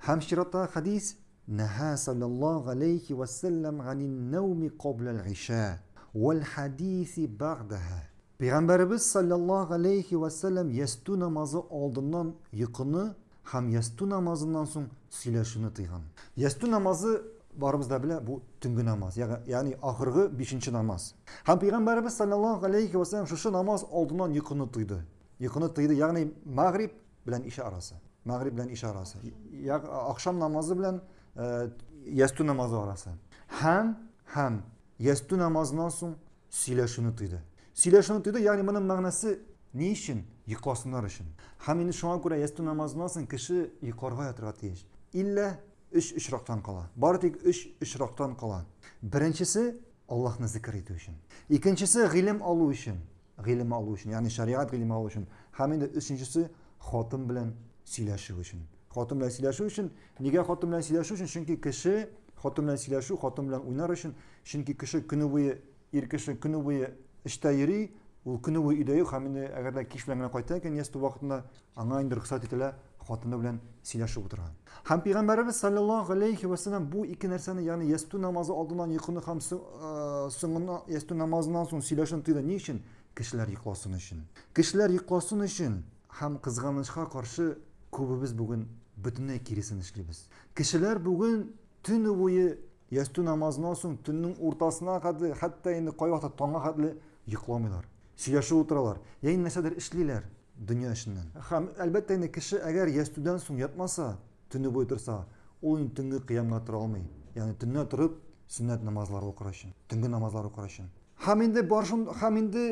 Һәм чираттагы хәдис, Нәһа салләллаһу галәйһи вә сәлләм ганин нәүми кабля аль-гыйшә, вәл хәдиси бәгъдәһә. Пәйгамбәребез салләллаһу галәйһи вә сәлләм ястү намазы алдыннан йокыны һәм ястү намазыннан соң сөйләшүне тыйган. Ястү намазы, барыбыз да белә, бу төнге намаз, ягъни ахыргы бишенче намаз. Һәм Пәйгамбәребез салләллаһу галәйһи вә сәлләм шушы намаз алдыннан йокыны тыйды. Йокыны тыйды, ягъни мәгъриб, белән иша арасы. Мәгъриб белән иша арасы. Я ахшам намазы белән э, ястү намазы арасы. Һәм һәм ястү намазыннан соң сөйләшүне тыйды. Сөйләшүне тыйды, ягъни моның мәгънәсе ни өчен? Йокласыннар өчен. Һәм инде шуңа күрә ястү намазыннан соң кеше йокларга ятырга тиеш. Иллә өч очрактан кала. Бары тик өч очрактан кала. Беренчесе Аллаһны зикр итү өчен. Икенчесе гыйлем алу өчен. Гыйлем алу өчен, ягъни шәригать гыйлеме алу өчен. Һәм инде өченчесе хатын белән сөйләшү өчен. Хатын белән сөйләшү өчен, нигә хатын белән сөйләшү өчен? Чөнки кеше хатын белән сөйләшү, хатын белән уйнар өчен, чөнки кеше көне буе ир кеше көне буе эштә йөри, ул көне буе өйдә юк һәм инде әгәр дә кич белән генә кайта икән, ястү вакытында Аңа инде рөхсәт ителә хатыны белән сөйләшеп утырга. Һәм Пәйгамбәребез саллаллаһу алейхи вә сәлләм бу ике нәрсәне, ягъни ястү намазы алдыннан йокыны һәм соңыннан ястү намазыннан соң сөйләшүне тыйды. Ни өчен? Кешеләр йокласын өчен. Кешеләр йокласын өчен һәм кызганычка каршы күбебез бүген бөтенләй киресен эшлибез. Кешеләр бүген төне буе ястү намазыннан соң төннең уртасына кадәр, хәтта инде кайвакыт таңга кадәр йокламыйлар. Сөйләшеп утыралар, яин нәрсәдер эшлиләр дөнья эшеннән. Һәм, әлбәттә инде, кеше әгәр ястүдән соң ятмаса, төне буе торса, ул инде төнге кыямга тора алмый, ягъни төнлә торып сөннәт намазлары укыр өчен, төнге намазлар укыр өчен. Һәм инде барышын, һәм инде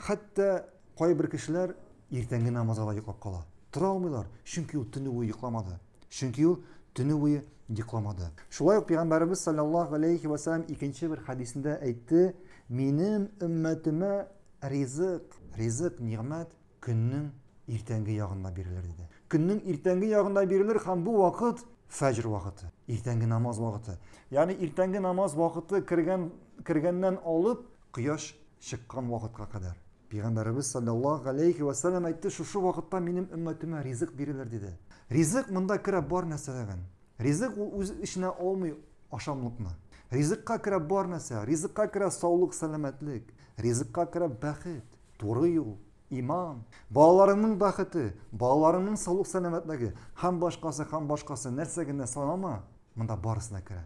хәтта кайбер кешеләр иртәнге намазга да йоклап кала. Тора алмыйлар, чөнки ул төне буе йокламады. Чөнки ул төне буе йокламады. Шулай ук пәйгамбәребез саллаллаһу алейхи ва саллям икенче бер хәдисендә әйтте, минем өммәтемә ризык, ризык, нигъмәт көннең иртәнге ягында бирелер диде. Көннең иртәнге ягында бирелер һәм бу вакыт фәҗр вакыты, иртәнге намаз вакыты. Ягъни иртәнге намаз вакыты кергән кергәннән алып кояш чыккан вакытка кадәр. Пәйгамбәребез саллаллаһу алейхи вә сәлләм әйтте, шушы вакытта минем өммәтемә ризык бирелер диде. Ризык монда керә бар нәрсәләрен. Ризык ул үз эченә алмый ашамлыкны. Ризыкка керә бар нәрсә. Ризыкка керә саулык, сәламәтлек. Ризыкка керә бәхет, туры юл, иман, балаларыңның бәхете, балаларыңның саулык сәламәтлеге һәм башкасы, һәм башкасы нәрсә генә санама, монда барысына керә.